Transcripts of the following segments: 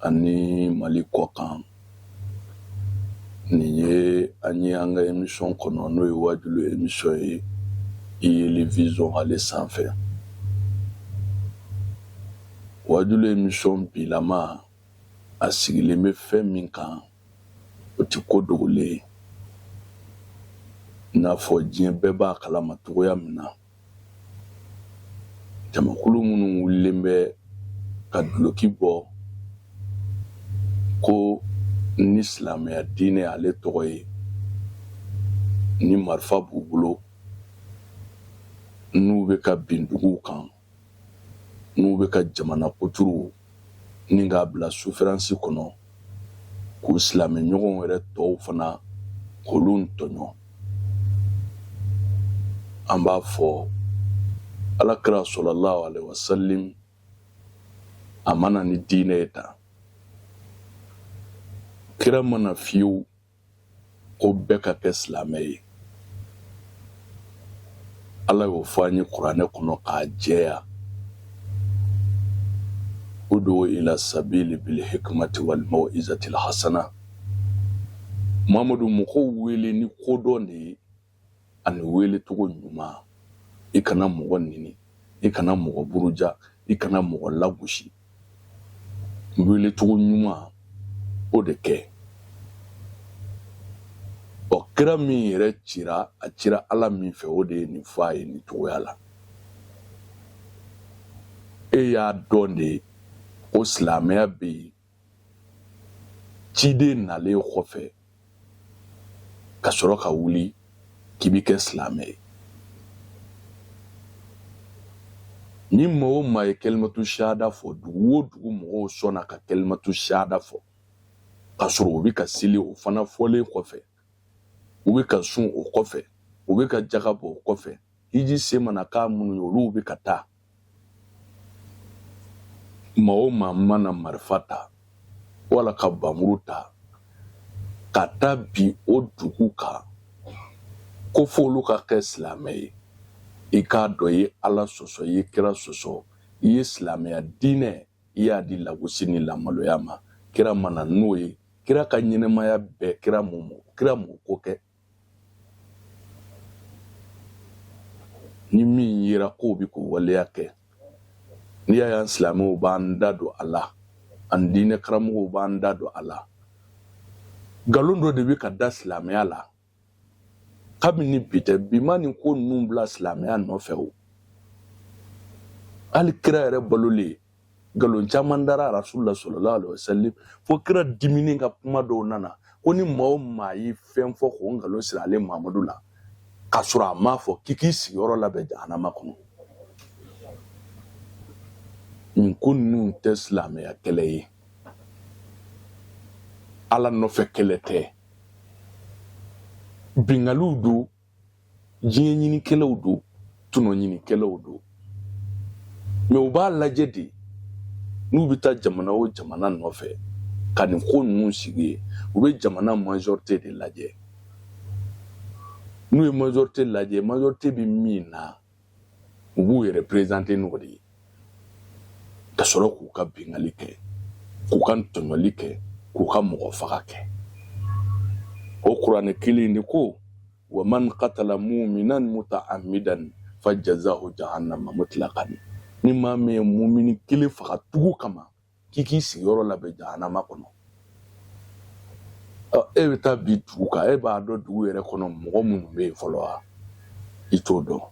ani mali kɔ kan nin ye an ye an ka emisiyɔn kɔnɔ n'o ye waajuli emisiyɔn ye yeli vision ale sanfɛ waajuli emisiyɔn bilama a sigilen bɛ fɛn min kan o tɛ ko dogolen ye n'a fɔ diɲɛ bɛɛ b'a kalama cogoya min na jamakulu minnu wulilen bɛ ka duloki bɔ ko ni silamɛya diinɛ ale tɔgɔ ye ni marifa b'u bolo n'u bɛ ka bin duguw kan n'u bɛ ka jamana kuturu ni k'a bila sufiransi kɔnɔ k'u silamɛɲɔgɔn yɛrɛ tɔw fana k'olu tɔɲɔ an b'a fɔ ala kira salalahu alayihi wasalamu a ma na ni diinɛ ye tan kira ma na fiyewu ko bɛɛ ka kɛ silamɛ ye ala y'o fɔ an ye kuranɛ kɔnɔ k'a jɛya udu ila sabili bil hikmati wal mawizati lhasana mamadu mɔgɔw wele ni kodɔn de ye ani welecogo ɲuman i kana mɔgɔ neni i kana mɔgɔ buruja i kana mɔgɔ lagosi welecogo ɲuman o de kɛ ɔ kira min yɛrɛ cira a cira ala min fɛ o de ye nin fɔ a ye nin cogoya la e y'a dɔn de ko silamɛya bɛ yen ciden nalen kɔfɛ ka sɔrɔ ka wuli k'i bɛ kɛ silamɛ ye ni maa o maa ye kalimatu sahada fɔ dugu o dugu mɔgɔw sɔnna ka kalimatu sahada fɔ ka sɔrɔ u bɛ ka seli o fana fɔlen kɔfɛ u bɛ ka sun o kɔfɛ u bɛ ka jaga bɔ o kɔfɛ hiji se mana k'a minnu ye olu bɛ ka taa maa o maa mana marifa ta wala ka bamuru ta ka taa bin o dugu kan ko fo olu ka kɛ silamɛ ye i k'a dɔn i ye ala sɔsɔ i ye kira sɔsɔ i ye silamɛya diinɛ i y'a di lagosi ni lamaloya ma kira ma na n'o ye kira ka ɲɛnamaya bɛɛ kira m'o ko kɛ ni min yera k'o bɛ k'o waleya kɛ n'i y'a y'an silamɛw b'an da don a la an diinɛ karamɔgɔw b'an da don a la nkalon dɔ de bɛ ka da silamɛya la kabini bi tɛ bi ma nin ko ninnu bila silamɛya nɔfɛ o hali kira yɛrɛ balolen nkalon caman dara rasul la sallallahu alaihi wasallam fo kira diminen ka kuma dɔw nana ko ni maa o maa ye fɛn fɔ k'o nkalon siri ale mamadu la k'a sɔrɔ a m'a fɔ k'i k'i sigiyɔrɔ labɛn jahanama kɔnɔ nin ko ninnu tɛ silamɛya kɛlɛ ye ala nɔfɛ kɛlɛ tɛ bingaliw don diɲɛ ɲinikɛlaw don tɔnɔ ɲinikɛlaw don mɛ u b'a lajɛ de n'u bɛ taa jamana o jamana nɔfɛ ka nin ko ninnu sigi yen u bɛ jamana majorite de lajɛ n'u ye majorite lajɛ majorite bɛ min na u b'u yɛrɛ prezante n'o de ye ka sɔrɔ k'u ka bingali kɛ k'u ka tɔɲɔli kɛ k'u ka mɔgɔ faga kɛ o kuranɛ kelen de ko wa man katala muminan muta'ammidan fa jazahu jahannama mutlaqan ni maa min ye mumini kelen faga tugu kama k'i k'i sigiyɔrɔ labɛn jahanama kɔnɔ e bɛ taa bin dugu kan e b'a dɔn dugu yɛrɛ kɔnɔ mɔgɔ minnu bɛ yen fɔlɔ wa i t'o dɔn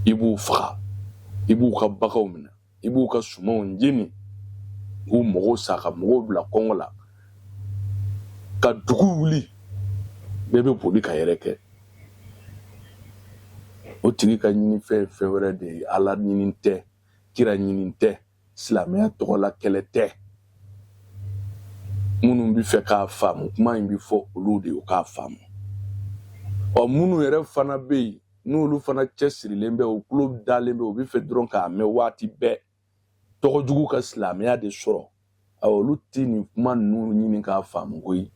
i b'u faga i b'u ka baganw minɛ i b'u ka sumanw jeni k'u mɔgɔw sa ka mɔgɔw bila kɔngɔ la ka dugu wuli bɛɛ bɛ boli ka yɛrɛkɛ o tigi ka ɲinifɛn ye fɛn wɛrɛ de ye ala ɲini tɛ kira ɲini tɛ silamɛya tɔgɔ la kɛlɛ tɛ minnu bɛ fɛ k'a faamu kuma in bɛ fɔ olu de ye k'a faamu ɔ minnu yɛrɛ fana bɛ yen n'olu fana cɛsirilen bɛ u tulo dalen bɛ u bɛ fɛ dɔrɔn k'a mɛn waati bɛɛ tɔgɔ jugu ka silamɛya de sɔrɔ olu tɛ nin kuma ninnu ɲini k'a faamu koyi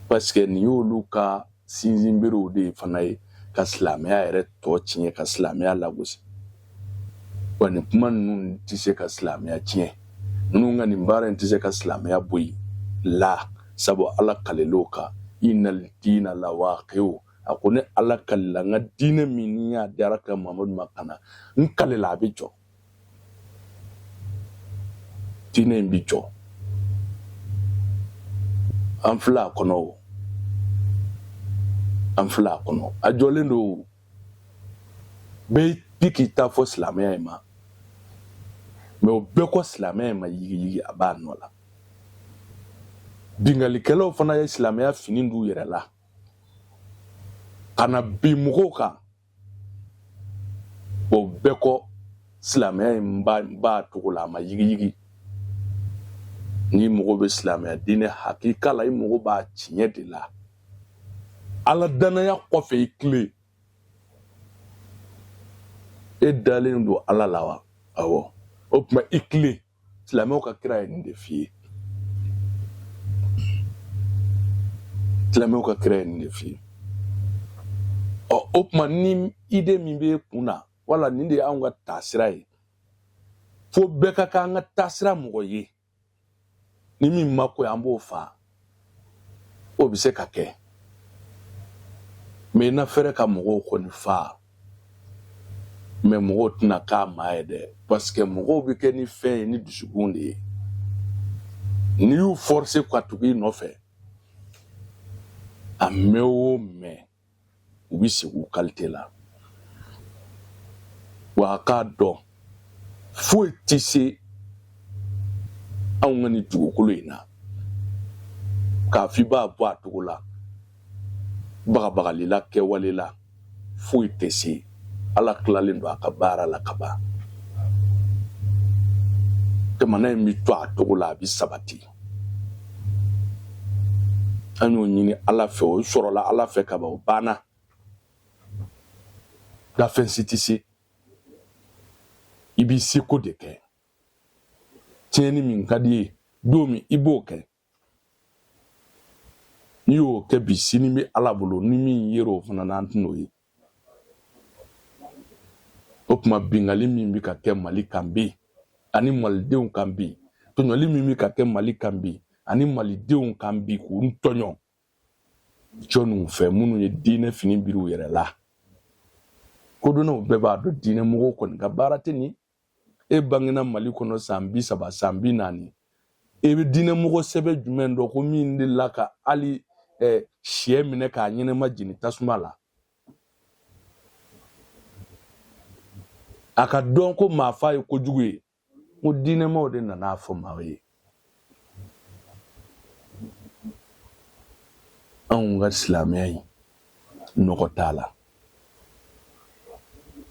paseke nin y'olu ka sinsinberew de fana ye ka silamɛya yɛrɛ tɔgɔ tiɲɛ ka silamɛya lagosi wa nin kuma ninnu tɛ se ka silamɛya tiɲɛ ninnu ka nin baara in tɛ se ka silamɛya bɔ yen la sabu ala kalil'o kan innal diina lawaqi'u a ko ne ala kalila n ka diinɛ min ni y'a diyara ka mamadu ma ka na n kalila a bɛ jɔ diinɛ in bi jɔ an filɛ a kɔnɔ o an filɛ a kɔnɔ a jɔlen don bɛɛ bi k'i ta fɔ silamɛya in ma mɛ o bɛɛ kɔ silamɛya in ma yigiyigi a b'a nɔ la bingalikɛlaw fana ye silamɛya fini d'u yɛrɛ la ka na bin mɔgɔw kan o bɛɛ kɔ silamɛya in b'a cogo la a ma yigiyigi n'i mago bɛ silamɛya diinɛ hakika la i mago b'a tiɲɛ de la ala danaya kɔfɛ i tilen e dalen don ala la wa awɔ o tuma i tilen silamɛw ka kira ye nin de f'i ye silamɛw ka kira ye nin de f'i ye ɔ o tuma ni idée min b'e kun na wala nin de y'anw ka taasira ye fo bɛɛ ka k'an ka taasira mɔgɔ ye ni min ma k'o ye an b'o faa o bɛ se ka kɛ mais i na fɛrɛ ka mɔgɔw kɔni faa mais mɔgɔw tɛna k'a maa ye dɛ parce que mɔgɔw bɛ kɛ ni fɛn ye ni dusukun de ye n'i y'u forcer ka tugu i nɔfɛ a mɛn o mɛn u bɛ segi u qualité la wa a k'a dɔn foyi tɛ se anw ka nin dugukolo in na k'a f'i b'a bɔ a cogo la bagabagalila kɛwale la foyi tɛ se ala tilalen don a ka baara la ka ban jamana in bɛ to a cogo la a bɛ sabati an y'o ɲini ala fɛ o sɔrɔla ala fɛ ka ban o banna dafɛn si tɛ se i b'i seko de kɛ tiɲɛni min ka d'i ye don min i b'o kɛ n'i y'o kɛ bi sini bɛ ala bolo ni min yer'o fana na an tɛn'o ye o tuma bingali min bɛ ka kɛ mali kan bi ani malidenw kan bi tɔɲɔli min bɛ ka kɛ mali kan bi ani malidenw kan bi k'u tɔɲɔ jɔnniw fɛ minnu ye diinɛ fini biri u yɛrɛ la kodɔnnaw bɛɛ b'a dɔn diinɛ mɔgɔw kɔni ka baara tɛ nin e bangena mali kɔnɔ san bi saba san bi naani e bɛ diinɛmɔgɔ sɛbɛn jumɛn dɔn ko min dela ka hali sɛ minɛ k'a ɲɛnɛma jeni tasuma la a k'a dɔn ko maa fa ye kojugu ye ko diinɛmaw de nana a fɔ maaw ye anw ka silamɛya in nɔgɔ t'a la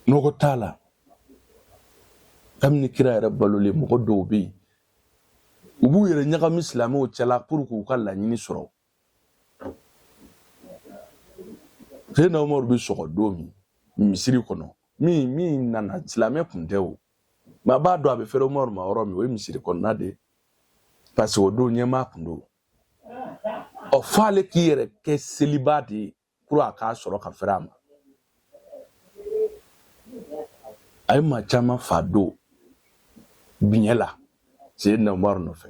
nɔgɔ t'a la kabini kira yɛrɛ balolen mɔgɔ dɔw bɛ yen u b'u yɛrɛ ɲagami silamɛw cɛla pour que u ka laɲini sɔrɔ seyidina umaru bɛ sɔgɔ don min misiri kɔnɔ min nana silamɛ tun tɛ o mais a b'a dɔn a bɛ fɛrɛ umaru ma yɔrɔ min o ye misiri kɔnɔna de ye parce que o don ɲɛmaa kun don ɔ f'ale k'i yɛrɛ kɛ selibaa de ye pour a k'a sɔrɔ ka fɛrɛ a ma a ye maa caman fa don biɲɛ la seyidina umaru nɔfɛ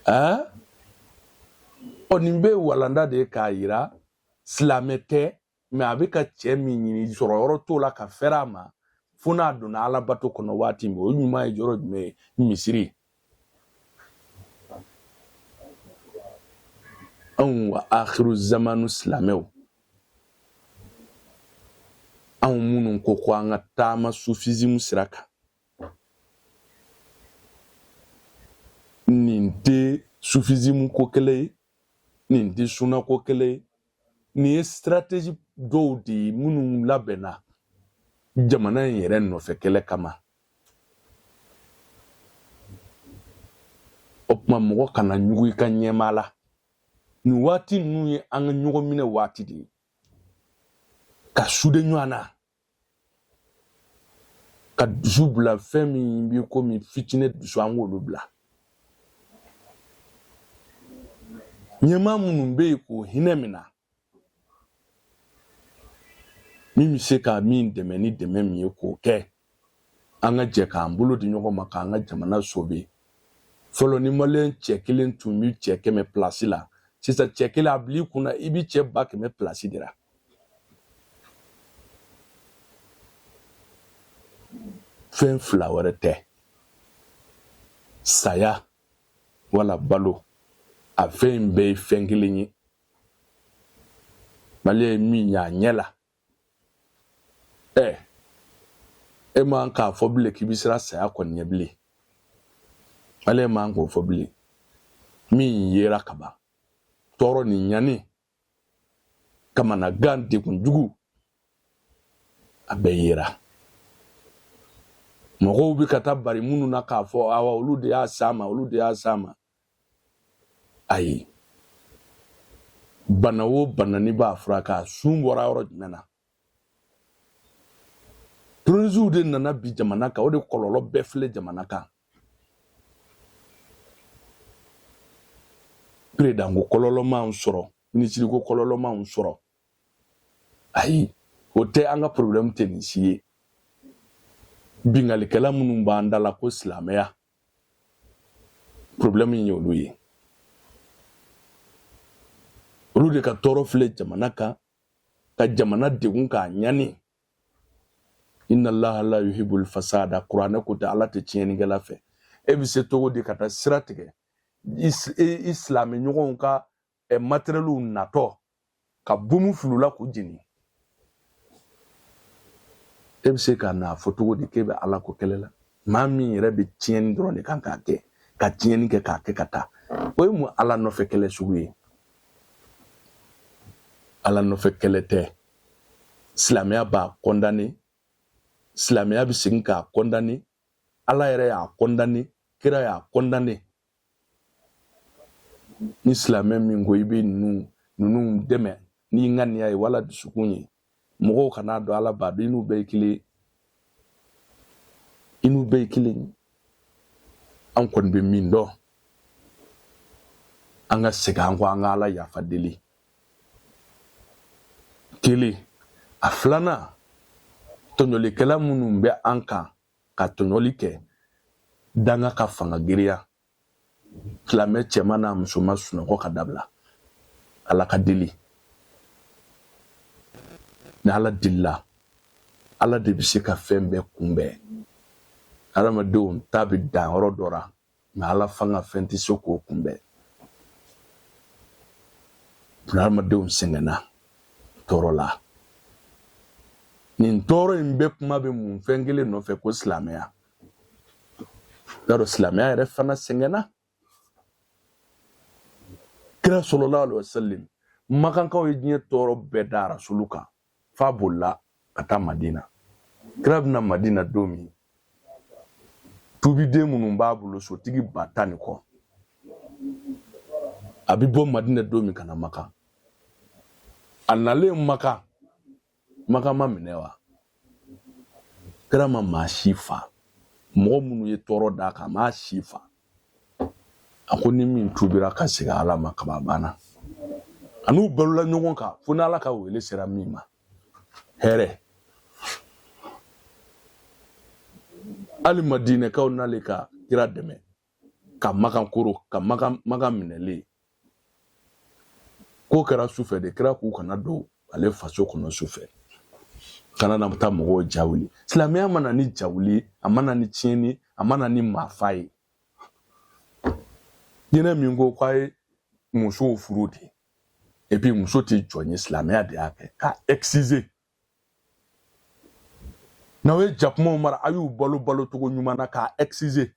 ɛɛ ɔ nin bɛɛ ye walanda de ye k'a yira silamɛ tɛ mais a bɛ ka cɛ min ɲini sɔrɔ yɔrɔ t'o la ka fɛrɛ a ma fo n'a donna ala bato kɔnɔ waati min o ɲuman ye yɔrɔ jumɛn ye misiri anw wa akhiru zamanu silamɛw anw minnu ko ko an ka taama sufizimu sira kan nin tɛ sufizimu ko kɛlɛ ye nin tɛ suna ko kɛlɛ ye nin ye strategie dɔw de ye minnu labɛnna jamana in yɛrɛ nɔfɛ kɛlɛ kama o tuma mɔgɔ kana ɲugu i ka ɲɛmaa la nin waati ninnu ye an ka ɲɔgɔn minɛ waati de ye ka sude ɲɔgɔn na ka dusu bila fɛn min b'i komi fitinin dusu an k'olu bila ɲɛmaa minnu bɛ yen k'o hinɛ minɛ min bɛ se ka min dɛmɛ ni dɛmɛ min ye k'o kɛ an ka jɛ k'an bolo di ɲɔgɔn ma k'an ka jamana sobe fɔlɔ ni maliyɛn cɛ kelen tun bɛ cɛ kɛmɛ pilasi la sisan cɛ kelen a bil'i kunna i bɛ cɛ ba kɛmɛ pilasi de la fɛn fila wɛrɛ tɛ saya wala balo a fɛn in bɛɛ ye fɛn kelen ye maliyɛn ye min y'a ɲɛ la ɛ e man k'a fɔ bilen k'i bɛ siran saya kɔni ɲɛ bilen maliyɛn man k'o fɔ bilen min yera kaban tɔɔrɔ ni ɲani kamanagan degun jugu a bɛɛ yera mɔgɔw bɛ ka taa bari minnu na k'a fɔ awa olu de y'a s'a ma olu de y'a s'a ma ayi bana o bana n'i b'a furakɛ a sun bɔra yɔrɔ jumɛn na terorisiw de nana bi jamana kan o de kɔlɔlɔ bɛɛ filɛ jamana kan peresidanko kɔlɔlɔ m'anw sɔrɔ minisiriko kɔlɔlɔ m'anw sɔrɔ ayi o tɛ an ka porobilɛmu tɛ nin si ye binkalikɛla minnu b'an da la ko silamɛya porobilɛmu in ye olu ye olu de ka tɔɔrɔ filɛ jamana kan ka jamana degun k'a ɲani inna allaha la yuhibbul fasada kuranɛ ko tɛ ala tɛ tiɲɛnikɛla fɛ e bɛ se cogo di ka taa sira tigɛ i silamɛ ɲɔgɔnw ka matérielw natɔ ka bɔmu fil'u la k'u jeni e bɛ se ka n'a fɔ cogo di k'e bɛ ala ko kɛlɛ la maa min yɛrɛ bɛ tiɲɛni dɔrɔn de kan k'a kɛ ka tiɲɛni kɛ k'a kɛ ka taa o ye mun ala nɔfɛ kɛlɛ sugu ye Ala nɔfɛ kɛlɛ tɛ silamɛya b'a condamné silamɛya bɛ segin k'a condamné ala yɛrɛ y'a condamné kira y'a condamné ni silamɛ min ko i bɛ ninnu ninnu dɛmɛ n'i ŋaniya ye wala dusukun ye mɔgɔw kan'a dɔn ala b'a dɔn i n'u bɛɛ ye kelen i n'u bɛɛ ye kelen an kɔni bɛ min dɔn an ka segin an kɔ an ka ala yafa deli kelen a filanan tɔɲɔlikɛla minnu bɛ an kan ka tɔɲɔli kɛ danga ka fanga giriya silamɛ cɛman n'a musoman sunɔgɔ ka dabila ala ka deli ni ala delila ala de bɛ se ka fɛn bɛɛ kunbɛn adamadenw ta bɛ dan yɔrɔ dɔ la mais ala fanga fɛn tɛ se k'o kunbɛn adamadenw sɛgɛnna tɔɔrɔla nin tɔɔrɔ in bɛɛ kuma bɛ mun fɛn kelen nɔfɛ ko silamɛya y'a dɔn silamɛya yɛrɛ fana sɛgɛnna kira sallallahu alaihi wasallam makankaw ye diɲɛ tɔɔrɔ bɛɛ da rasulu kan f'a bolila ka taa madina kira bɛ na madina don min tubiden minnu b'a bolo sotigi ba tan ni kɔ a bɛ bɔ madina don min ka na makan a nalen makan Makan ma minɛ wa kira ma maa si fa mɔgɔ minnu ye tɔɔrɔ d'a kan m'a si fa a ko ni min tubira ka segin ala ma kaba banna a n'u balola ɲɔgɔn kan fo ni ala ka wele sera min ma hɛrɛ hali madinɛkaw nalen ka kira dɛmɛ ka makan koro ka makan makan minɛlen ko kɛra sufɛ de kira k'u kana don ale faso kɔnɔ sufɛ kana na taa mɔgɔw ja wuli silamɛya ma na ni jawuli a ma na ni tiɲɛni a ma na ni maafa ye diinɛ min ko k'a ye musow furu de epi muso tɛ jɔn ye silamɛya de y'a kɛ k'a exigé n'aw ye jakumaw mara a y'u balo balo cogo ɲuman na k'a exigé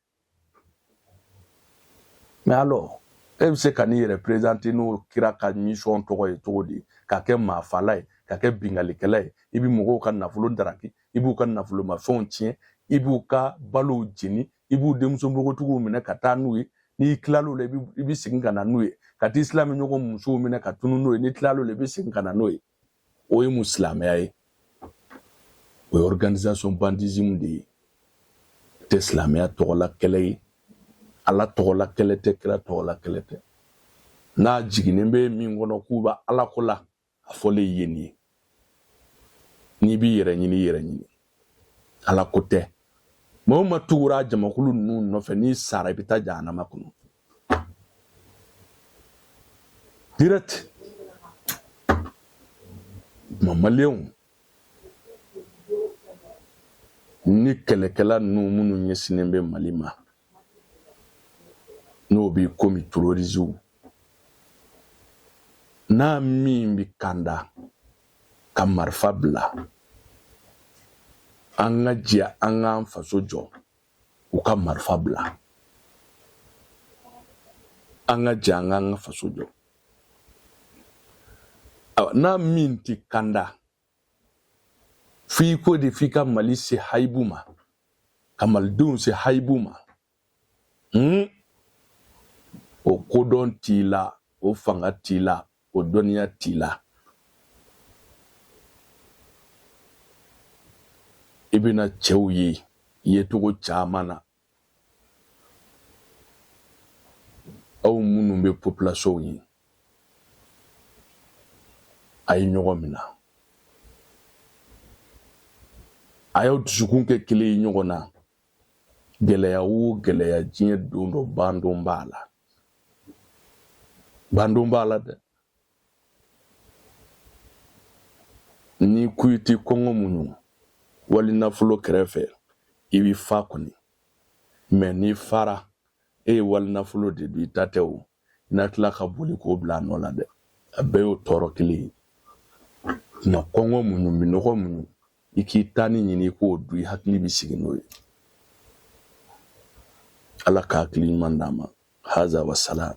mais alors e bɛ se ka n'i yɛrɛ présenter n'o kira ka mission tɔgɔ ye cogo di ka kɛ maafala ye ka kɛ bingalikɛla ye i bɛ mɔgɔw ka nafolo daraki i b'u ka nafolomafɛnw tiɲɛ i b'u ka balow jeni i b'u denmuso npogotigiw minɛ ka taa n'u ye n'i tilal'o la i bɛ segin ka na n'u ye ka t'i silamɛɲɔgɔn musow minɛ ka tunu n'o ye n'i tilal'o la i bɛ segin ka na n'o ye O ye mun silamɛya ye o ye organisation bandisme de ye tɛ silamɛya tɔgɔla kɛlɛ ye ala tɔgɔla kɛlɛ tɛ kira tɔgɔla kɛlɛ tɛ n'a jiginnen bɛ min kɔnɔ k'u bɛ alako la a fɔlen ye nin ye n'i b'i yɛrɛ ɲini i yɛrɛ ɲini Ala ko tɛ maa o maa tugura jamakulu ninnu nɔfɛ n'i sara i bɛ taa jahanama kɔnɔ direct maliyɛnw ni kɛlɛkɛla ninnu minnu ɲɛsinnen bɛ mali ma n'o bɛ komi terroristes n'a min bɛ kanda ka marifa bila an ka jɛ an k'an faso jɔ u ka marifa bila an ka jɛ an k'an ka faso jɔ n'a min tɛ kanda F'i ko de f'i ka Mali se hayibu ma, ka Malidenw se hayibu ma, hun, o kodɔn t'i la, o fanga t'i la, o dɔnniya t'i la. I bɛna cɛw ye yecogo caman na aw minnu bɛ population ye a ye ɲɔgɔn minɛ a y'aw dusukun kɛ kelen ye ɲɔgɔn na gɛlɛya o gɛlɛya diɲɛ don dɔ bandon b'a la bandon b'a la dɛ n'i ko i tɛ kɔngɔ muɲu wali nafolo kɛrɛfɛ i bɛ fa kɔni mais n'i fara e ye wali nafolo de dun i ta tɛ o i na tila ka boli k'o bila a nɔ la dɛ a bɛɛ y'o tɔɔrɔ kelen ye nka kɔngɔ muɲu minɔgɔ muɲu i k'i tanin ɲini i k'o dun i hakili bɛ sigi n'o ye ala ka hakili ɲuman d'an ma haza wa salam